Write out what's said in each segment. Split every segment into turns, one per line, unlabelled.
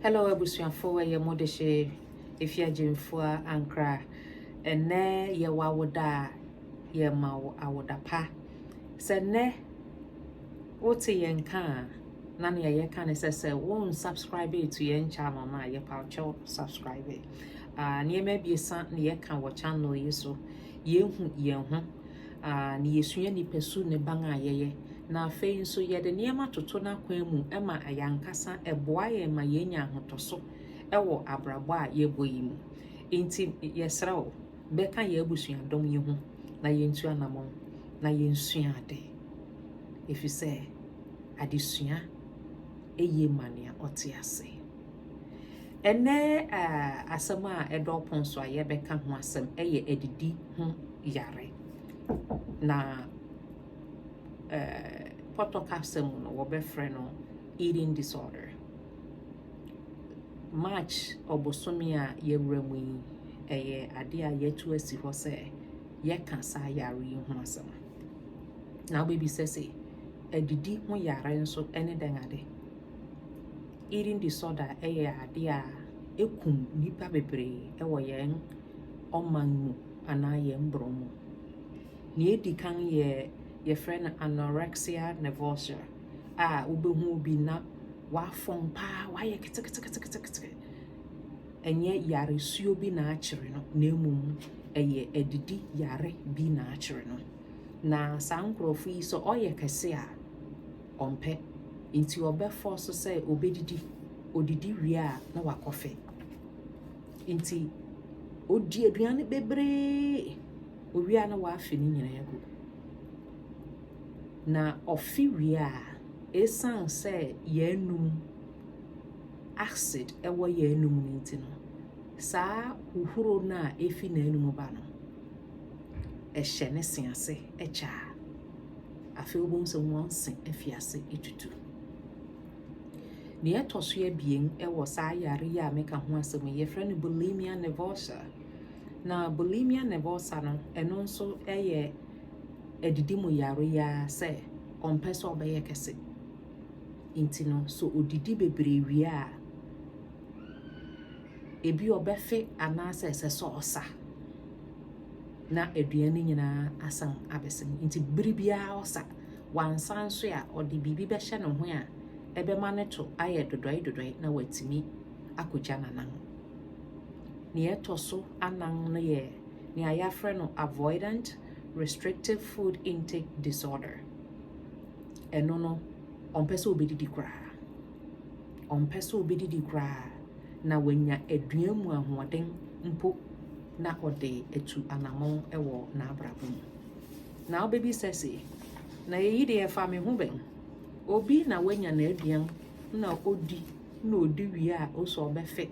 Hello abusuafo ɛyɛ mo de hye efi agyemfua ankra ɛnɛ yɛ wawoda yɛ ma wo awoda pa sɛ nɛ wote yɛ nka na ne yɛ ka ne sɛ sɛ wo unsubscribe to yɛ channel na yɛ pa kyɛw subscribe uh, nneɛma abiesa ne yɛ ka wɔ channel yi so yɛ hu yɛn ho a na yesua nipasu ne ban a yɛyɛ, na afei nso yɛde nneɛma toto n'akwan mu ma yɛn ankasa ɛboa yɛn ma yenya ahotoso wɔ abrabɔ a yɛbɔ yi mu. Enti yɛsrɛ wo, bɛka yɛn abusuadɔm yi ho na yentu anammɔn na yensua ade, efisɛ adesua eye ma nea ɔte ase. Ɛnnɛ asɛm a ɛda ɔpon so a yɛbɛka ho asɛm yɛ adidi ho yare. Na pɔtɔ kasa mu no wɔbɛfrɛ no eating disorder. March ɔbosome a yɛwura mu yi ɛyɛ ade a yɛatu asi hɔ sɛ yɛka saa yare yi ho asɛm. Na wobɛbisa sɛ adidi ho yare nso ne dɛn ade? Eating disorder yɛ ade a ɛkum nnipa bebree wɔ yɛn ɔman mu anaa yɛn borɔ mu. Nea ɛdi kan yɛ yɛfrɛ no anorexia nervosa a wobɛhu obi na wafɔn paa, wayɛ keteketekete. Ɛnyɛ yaresuo bi na akyere no na mmom ɛyɛ adidi yare bi na akyere no. Na saa nkurɔfo yi sɛ ɔyɛ kɛse a, ɔmpɛ nti ɔbɛ fɔɔso sɛ ɔbɛdidi, ɔdidi wie a na wakɔfe. Nti ɔdi aduane bebree, ɔwie a na wafe ne nyinaa agu. Na ɔfe wie a, ɛsiane sɛ yɛn anum acid ɛwɔ yɛn anum no nti no, saa huhuro no a ɛfi n'anum ba no, ɛhyɛ ne se ase kyɛ a. Afei wobɛhu sɛ wɔn se afi ase atutu. Nea ɛtɔ so abien wɔ saa yare yi a meka ho asɛm yi, yɛfrɛ no bulimia nervosa. Na bulimia nervosa no, ɛno nso yɛ adidi mu yare yi ara sɛ ɔmpɛ sɛ ɔbɛyɛ kɛse. Nti no, so odidi bebree wie a, ebi ɔbɛfe anaasɛ ɛsɛ sɛ ɔsa. na aduan no nyinaa asan abɛsa mu. Nti bere biara ɔsa, wansa nso a ɔde biribi bɛhyɛ ne ho a ɛbɛma ne to ayɛ dodɔe dodɔe na watumi akogya n'anan. Nea ɛtɔ so anan no yɛ nea yɛafrɛ no avoidant restrictive food intake disorder. Ɛno no, ɔmpɛ sɛ obedidi koraa. Ɔmpɛ sɛ obedidi koraa na wanya aduan mu ahoɔden mpo na ɔde atu anammɔn wɔ n'abrabɔ mu. Na wobebisa se, 'Na eyi de ɛfa me ho bɛn? Obi na wanya n'aduan na odi na odi wie a ose ɔbɛfe.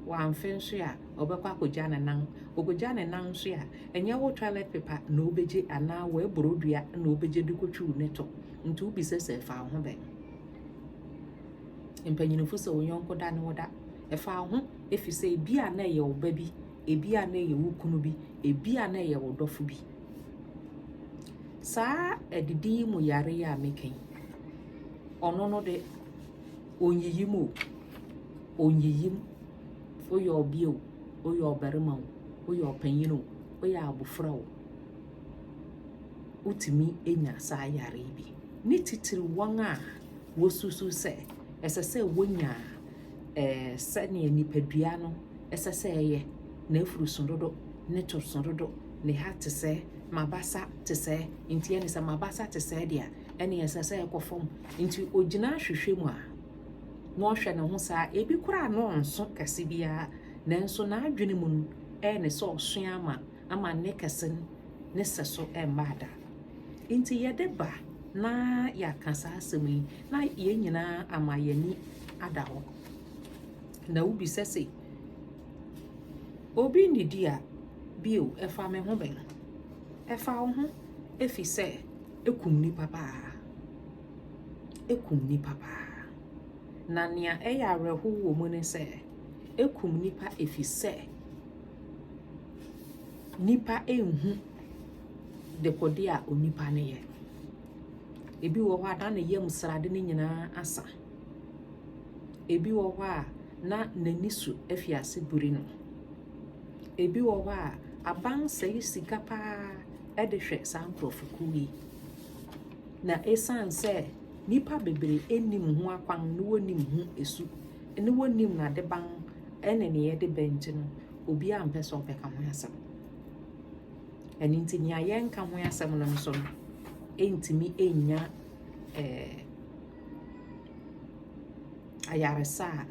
Wamfe nso a, ɔbɛkɔ akogya ne nan. Okogya ne nan nso a, ɛnyɛ wo toilet paper na wobegye anaa w'aburow dua na wobegye de kotwiw ne to. Nti wobisa se ɛfa wo ho bɛn? Mpanyinfo sɛ wo yɔnko da ne wo da. Ɛfa wo ho efisɛ ebi a na ɛyɛ wo ba bi, ebi a na ɛyɛ wo kunu bi, ebi a na ɛyɛ wo dɔfo bi. Saa adidi yi mu yare yi a meka yi, ɔno no de onyiyim o, onyiyim. Woyɛ ɔbea o, woyɛ ɔbarima o, woyɛ ɔpanyin o, woyɛ abofra o. wotumi nya saa yare yi bi. Ne titiriw wɔn a wosusuw sɛ ɛsɛ sɛ wonya ɛɛ sɛnea nipadua no ɛsɛ sɛ ɛyɛ na afuruso dodo ne torso dodo ne ha te sɛ mabasa te sɛ nti ɛne sɛ mabasa te sɛ deɛ ɛne ɛsɛ sɛ ɛkɔ fam nti ogyina ahwehwɛ mu a na ɔhwɛ ne ho saa ebi koraa no nso kɛse biara nanso n'adwene mu no ɛne sɛ ɔsoa ama ama ne kɛse no ne sɛso mmaa da. Enti yɛde ba na yɛaka saa asɛm yi na yɛn nyinaa ama yɛn ani ada hɔ. Na wobisa se, obi nnidi a bio ɛfa me ho bɛn? Ɛfa wo ho efi sɛ ekum nipa paa. Ekum nipa paa. Na nea ɛyɛ awerɛhow wɔ mu ne sɛ ekum nipa efi sɛ Nnipa nhu dekode a onipa no yɛ. Ebi wɔ hɔ a na ne yam srade no nyinaa asa. Ebi wɔ hɔ a na n'ani so afi ase biri no. Ebi wɔ hɔ a abansɛe sika pa ara de hwɛ saa nkurɔfokuo yi. Na ɛsiane sɛ nnipa bebree nnim ho akwan na wɔnnim ho su na wɔnnim n'adeban. Ɛne nea ɛde ba nti no, obiara ampɛ sɛ ɔbɛka ho asɛm. Ɛno nti nea yɛnka ho asɛm no nso no, ɛntumi ɛnnya eh, ayaresa a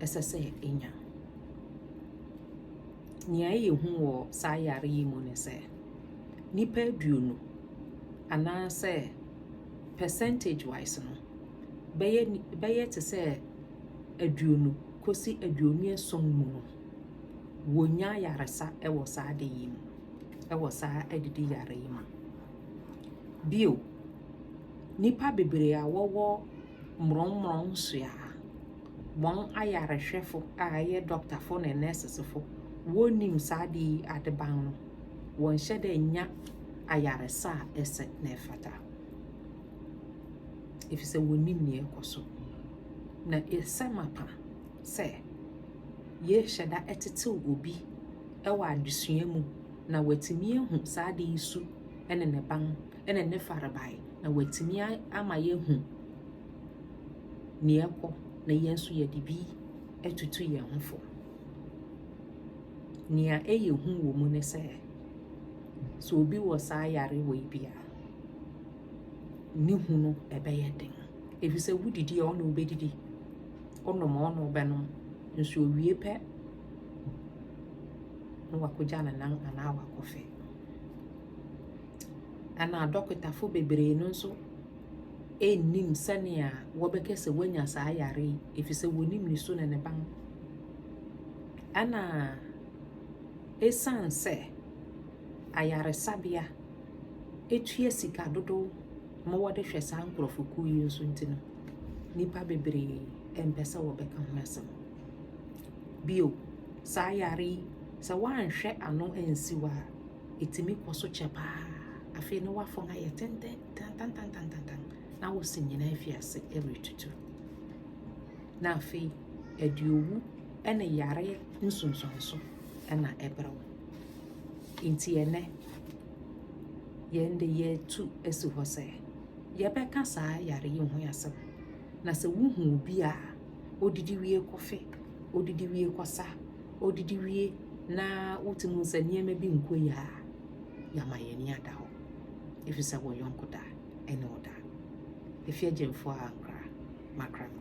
ɛsɛ sɛ ɛnya. Nea ɛyɛ hu wɔ saa yare yi mu ne sɛ, nnipa aduonu anaasɛ percentage wise no, bɛyɛ bɛyɛ te sɛ aduonu kosi aduonu ason mu no, wɔnya ayaresa wɔ saa ade yi mu, wɔ saa adidi yare yi mu. Bio, nnipa bebree a wɔwɔ mmorɔmmorɔn nsoa a wɔn ayarehwɛfo a ɛyɛ dɔktafo ne nɛɛsesefo wɔnnim saa ade yi adeban no, wɔnhyɛ dɛ nya ayaresa a ɛsɛ na ɛfata, efisɛ wɔnnim nea ɛkɔ so. Na ɛsɛ mapa sɛ yɛhyɛ da tetew obi wɔ adesua mu na watumi ahu saa ade yi su ne ne ban ne ne farebae na watumi ama yɛahu nea ɛkɔ na yɛn nso yɛde bi atutu yɛn ho fo. Nea ɛyɛ hu wɔ mu ne sɛ, sɛ obi wɔ saa yare wei bi a, ne hu no ɛbɛyɛ den. Efisɛ wudidi a, ɔne wo bedidi, wonom a, ɔne wo bɛnom, nso owie pɛ na wakogya ne nan anaa wakɔfe. Ɛna adɔkotafo bebree no nso nnim sɛnea wɔbɛka sɛ woanya saa yare yi, efisɛ wonim ne su ne ne ban. Ɛna esiane sɛ ayaresabea etua sika dodow ma wɔde hwɛ saa nkurɔfokuw yi nso nti no, nnipa bebree mpɛ sɛ wɔbɛka ho asɛm. Bio, saa yare yi, sɛ woanhwɛ ano ansiw a, etumi kɔ so kyɛ paa. Afei ne wafɔn ayɛ tenten tantantantantantan na wo se nyinaa afi ase retutu. Na afei, ɛde owu ne yare nsunsuanso na ɛbrɛ wo. Nti ɛnɛ, Yɛn de yɛatu asi hɔ sɛ yɛbɛka saa yare yi ho asɛm. Na sɛ wohu obi a odidi wie kɔfe, odidi wie kɔsa, odidi wie na wotumi hu sɛ nneɛma bi nkɔ yie a, yɛama yɛn ani ada hɔ. Ɛfiri sɛ wɔ yɔnko da ɛne ɔda. Efi agyemfoɔ a ankora makra no.